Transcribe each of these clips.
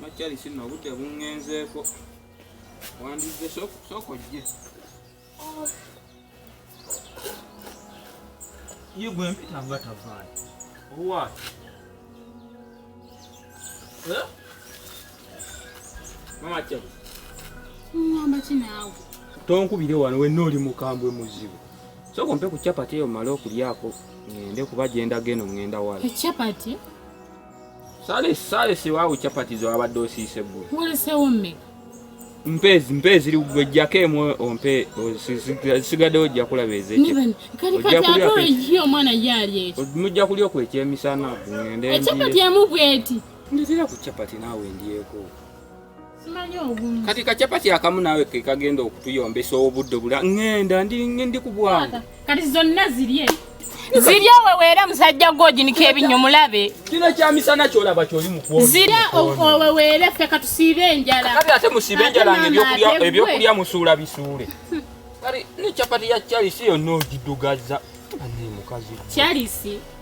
Makyali sino obudde bungenzeeko wandizze sooka ojje ye gwe mpita nga tavaayo owaayo eh? mama kyali ngamba ki naawe tonkubire wano wenna oli mukambwe muzibu sooka ompe ku capati eyo male okulyako ngende kuba gyendaga eno ngenda wala ecapati Sale sale si wawo chapati zo abadde osiise gwe. Mulisewo mmeka? Mpezi mpezi ligwe jake mwe ompe sigade ojja kulaba eze. Niben kali kati atoro yiyo mwana yali ekyo. Mujja kulyo ku ekyemisana ngende. Chapati ya mugweti. Ndizira ku chapati nawe ndiyeko. kati kacapati akamu naawe kekagenda okutuyombesa obudde bula ŋenda ndi ku bwangu kati zonna zirye zirya oweweera musajja gwoginika ebinnyo mulabe kino kyamisana kyolaba kyoli mukuzirya oweweere ffe katusiibe enjala kati ate musiibe enjala ngaebyokulya musuula bisuule kati ne capati ya charisi yonna ogidugazza ane mukazi charisi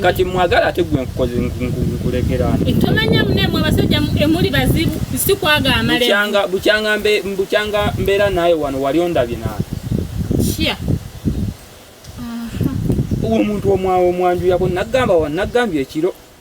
kati mwagala ate gwe nkukoze nkulekerani tomanya mune mwe basajja emuli bazibu si kwaga amale bukyanga bukyanga mbe bukyanga mbera naye wano wali ondabye na chia uwo muntu omwawo mwanju yako nagamba wa nagambye ekiro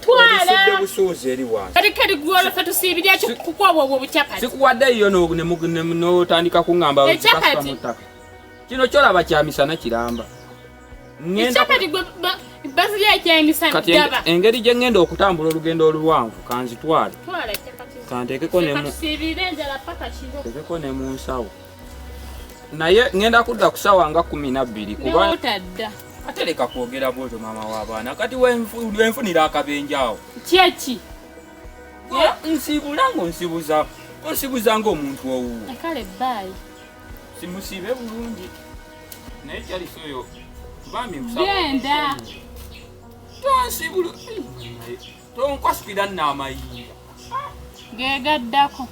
twala busuuzi eri wansi kati kati gwolo fe tusiibirya kukwaba obwo bucapati sikuwadde yo n'otandika kuŋŋamba ekyapati kino kyolaba kya misana kiramba ekyapati bazirya ekyemisana kati engeri gye ŋŋenda okutambula olugendo oluwanvu kanzitwale kanteekeko ne mu nsawo naye ngenda kudda kusawa nga kumi nabbiri kubatadda ate leka kwogera bwotyo maama w'abaana kati wenfunira akabenja awo kyeki nsibula ngo nsibuza onsibuza ngaomuntu owuwo kale baayi simusiibe bulungi naye kyalisi oyo bambi genda tonsibula tonkwasikira nno amayinja gegaddako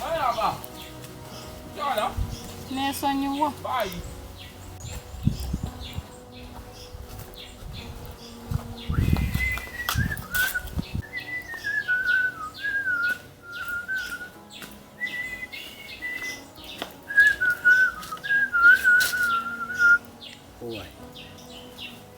alaba kyala nesonyiwa bayi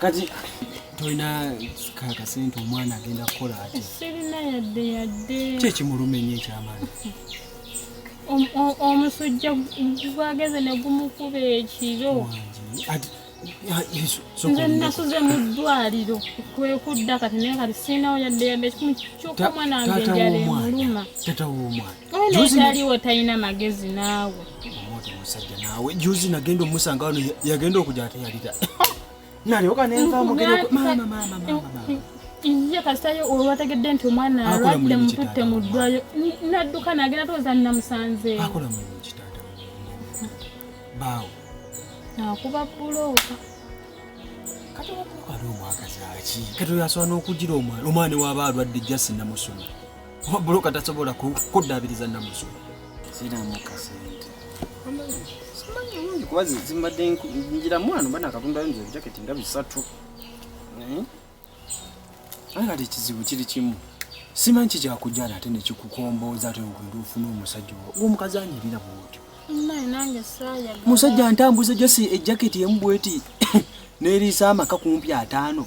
kati tolina kakasente omwana agenda kukola ati sirina yadde yadde kyekimuluma enyo ekyamaani omusujja gwageze ne gumukuba ekiro nze nasuze mu ddwaliro kwekudda kati naye kati sirinawo yadde yadde ekimu kyoka omwana wange enjala emuluma tata w'omwana talina magezi naawe musajja naawe juzi nagenda omusanga wano yagenda okuja ate yalira nalyoka nenva mugeroiye kasitayo olwategedde nti omwana alwadde mututte mu ddwayo nadduka nagenda tooza namusanzeeakola mulimu kitaata baawo akuba bulooka kati omwakazaaki kati oyo asobola n'okugira omwana omwana waaba alwadde jasi namusoma kuba buloka tasobola kuddaabiriza namusu siramu kasente simanyi bulungi kuba zimbadde njira mwana mba nakatundayo nze ebijaketi nga bisatu eh? naye kati ekizibu kiri kimu simanyi kikyakujjana ate nekikukombooza ate ogenda ofuna omusajja omukazi anyirira bwotyo musajja ntambuza jasi ejaketi emu bweti neriisa amaka kumpi ataano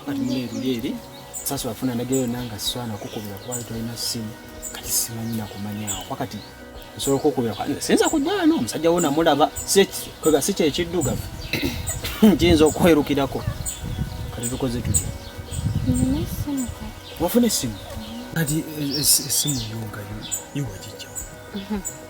wakati mune eruli eri sasa wafuna ndagirayo nanga swana kukubira kubayo tolina simu kati simanyi nakumanyawo wakati nsobola okukubira sinza kujja wano omusajja wo namulaba kwega si kyekiddugavu kiyinza okwerukirako kati tukoze tutya wafuna esimu kati esimu yongayo iwajijjawo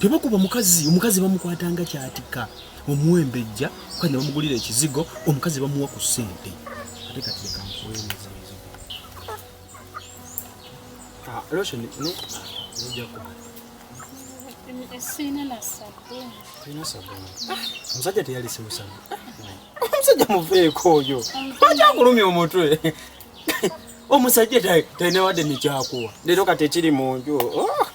tebakuba mukazi omukazi bamukwata nga kyatika omuwembejja kati ne bamugulira ekizigo omukazi bamuwa ku ssente ate kati leka nkuwemuza ah, loshoni no zijjako omusajja teyalise musamu omusajja muveeko oyo akyakulumya omutwe omusajja talina wadde nekyakuwa leero kati ekiri mu nju oh.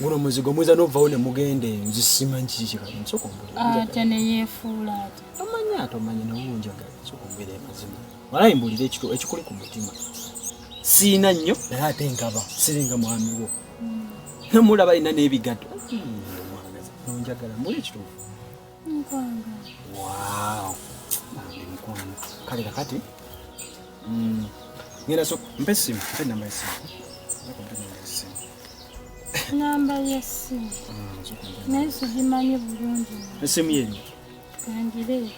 guno muzigo mwiza novawo ne mugenda eyo nze simanyi kiki kikali nsokombulate neyefuula ate tomanyi ate omanyi newunjagala nsokombwera emazima walayi mbulira ekikuli ku mutima siina nnyo naye ate nkaba siringa mwami wo hmm. namulaba alina n'ebigato hmm, nonjagala muli ekituufu kale kakati mm, ngenda so mpe essimu mpe namba yessimu namba yessimu mm, naye sigimanyi bulungi essimu yeri kangire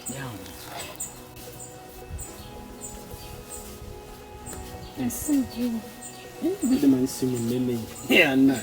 essimu giri Bidde manyi simu nene. Yeah, nice.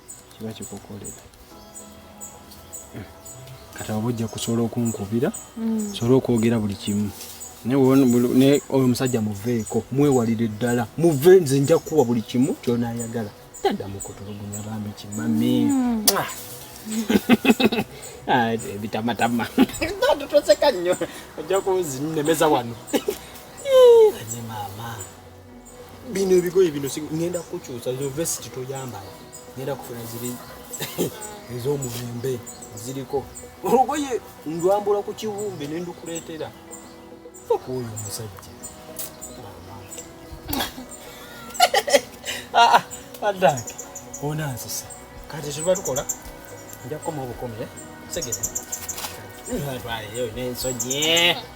kiba kikukolera kati oba ojja kusobola okunkubira mm. sobola okwogera buli kimu naye oyo omusajja muveeko mwewalire ddala muve nze nja kukuwa buli kimu kyonayagala taddamu kutulugunya bambi kimami mm. ah. Ah, ebitamatama toseka nnyo ojja kuzinemeza wano bino ebigoye bino ngenda kukukyusa zo vesiti toyambala ngenda kufuna ziri ez'omulembe ziriko olugoye ndwambula ku kiwumbe ne ndukuleetera faka oyo omusajja ah, ah, adange onanzisa kati tuba tukola nja kukoma obukomye segere ntwaleyo nensonyi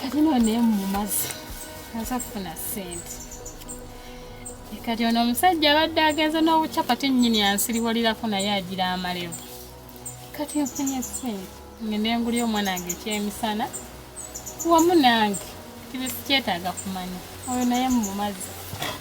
kati no naye mumazi aza kufuna sente kati ono omusajja abadde agenze n'obucapati nnyini ansiriwalirako naye agira amalevu kati nfunye sente ngende nguli omwana wange ekyemisana wamu nange tibisikyetaaga kumanya oyo naye mumazzi